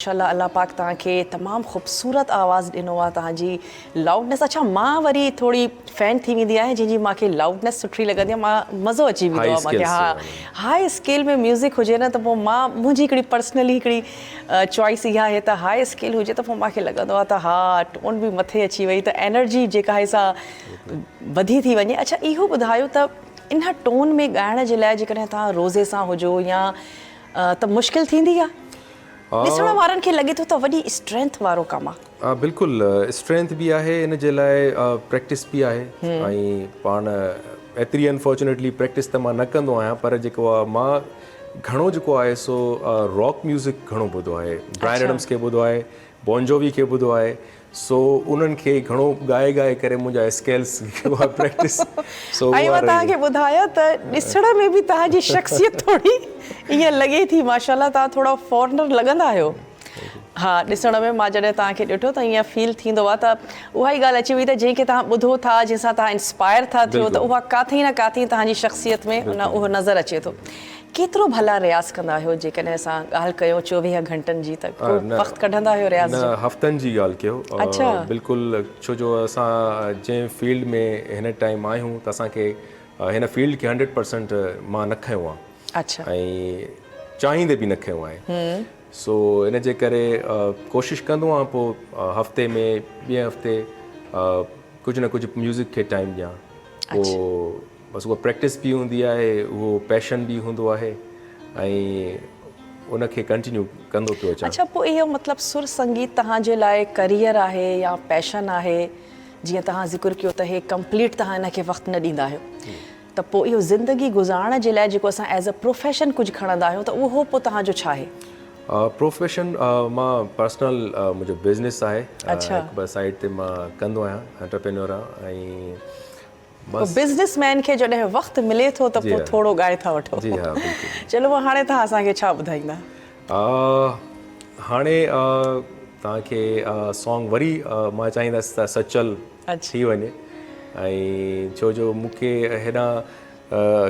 ماشاءالله الله پاڪ توهان کي تمام خوبصورت آواز ڏنو آ توهان جي لائوڊنيس اڇا مان وري ٿوري فين ٿي ويندي آهيان جنهن جي مان کي لائوڊنيس سٺي لڳندي آ مان مزو اچي ويندو آ مان کي ها هاء اسڪيل ۾ ميوزڪ هجي نه ته پو مان منهنجي هڪڙي پرسنلي هڪڙي چوائس اهي آهي ته هاء اسڪيل هجي ته پو مان کي لڳندو آ ته ها ٽون به مٿي اچي وئي ته انرجي جيڪا آهي سا وڌي ٿي وڃي اڇا اهو ٻڌايو ته ان ٽون ۾ ڳائڻ جي لاء جيڪڏهن توهان روزي سان هجو يا ته مشڪل ٿيندي آ. ڏسڻ وارن کي لڳي ٿو ته وڏي اسٽرينٿ وارو ڪم آ. ها بلڪل اسٽرينٿ به آهي ان جي لاء پريڪٽس به آهي ۽ پاڻ ايتري انفارچونيٽلي پريڪٽس ته مان نه ڪندو آهيان پر جيڪو آهي مان گهڻو جيڪو آهي سو راڪ ميوزڪ گهڻو ٻڌو آهي براين ايڊمس کي ٻڌو آهي بون جووي کي ٻڌو آهي سو انهن کي گهڻو ڳائي ڳائي ڪري منهنجا اسڪيلز جيڪي هئا پريڪٽس سو اها رهي وئي. ۽ مان توهان کي ٻڌايان ته ڏسڻ ۾ به توهان جي شخصيت ٿوري ائين لڳي ٿي ماشاءالله توهان ٿورا فارنر لڳندا آهيو ها ڏسڻ ۾ مان جڏهن توهان کي ڏٺو ته ائين فيل ٿيندو آهي ته اها ئي ڳالهه اچي وئي ته جنهن کي توهان ٻڌو ٿا جنهن سان توهان انسپائر ٿا ٿيو ته اها ڪاٿي نه ڪاٿي توهان جي شخصيت ۾ اهو نظر اچي ٿو ڪيترو ڀلا رياض ڪندا آهيو جيڪڏهن اسان ڳالهه ڪيون چوويهه گهنٽن جي ته ڪو وقت ڪڍندا آهيو رياض جو؟ نه هفتن جي ڳالهه ڪيو بلڪل ڇو جو اسان جنهن فيلڊ ۾ هن ٽائيم آهيون ته اسان کي هن فيلڊ کي هنڊريڊ پرسنٽ مان نه کنيو آهي ۽ چاهيندي به نه کنيو آهي سو ان جي ڪري ڪوشش ڪندو آهيان پوء هفتي ۾ ٻئي هفتي ڪجهه نه ڪجهه ميوزڪ کي ٽائيم ڏيان پوء بس اها پريڪٽس به هوندي آهي اهو پيشن به هوندو آهي ۽ ان کي ڪنٽينيو ڪندو پيو اچان. اڇا پوء اهو مطلب سر سنگيت توهان جي لاء ڪريئر آهي يا پيشن آهي جيئن توهان ذڪر ڪيو ته هي ڪمپليٽ توهان ان کي وقت نه ڏيندا آهيو ته پوء اهو زندگي گذارڻ جي لاء جيڪو اسان ايز اي پروفيشن ڪجهه کڻندا آهيون ته اهو پوء توهان جو ڇا آهي؟ پروفيشن مان پرسنل منهنجو بزنس آهي هڪ ٻه سائيڊ تي مان ڪندو آهيان انٽرپرينيور آهيان ۽ بس. بزنس مين کي جڏهن وقت ملي ٿو ته پوء ٿورو ڳائي ٿا وٺو. جي ها بلڪل. چلو پوء هاڻي توهان اسان کي ڇا ٻڌائيندا؟ هاڻي توهان کي سانگ وري مان چاهيندس ته سچل ٿي وڃي ۽ ڇو جو مون کي هيڏانهن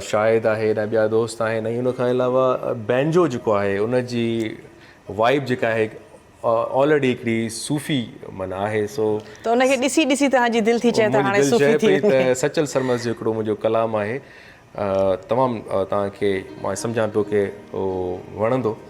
شاهد آهي هيڏانهن ٻيا دوست آهن ۽ ان کان علاوه بينجو جيڪو آهي ان جي وائب جيڪا آهي آلريڊي هڪڙي صوفي من آهي سو ته ان کي ڏسي ڏسي توهان جي دل ٿي چئي ته هاڻي صوفي ٿي وڃي ته سچل سرمست جو هڪڙو منهنجو ڪلام آهي تمام توهان کي مان سمجهان پيو ڪي هو وڻندو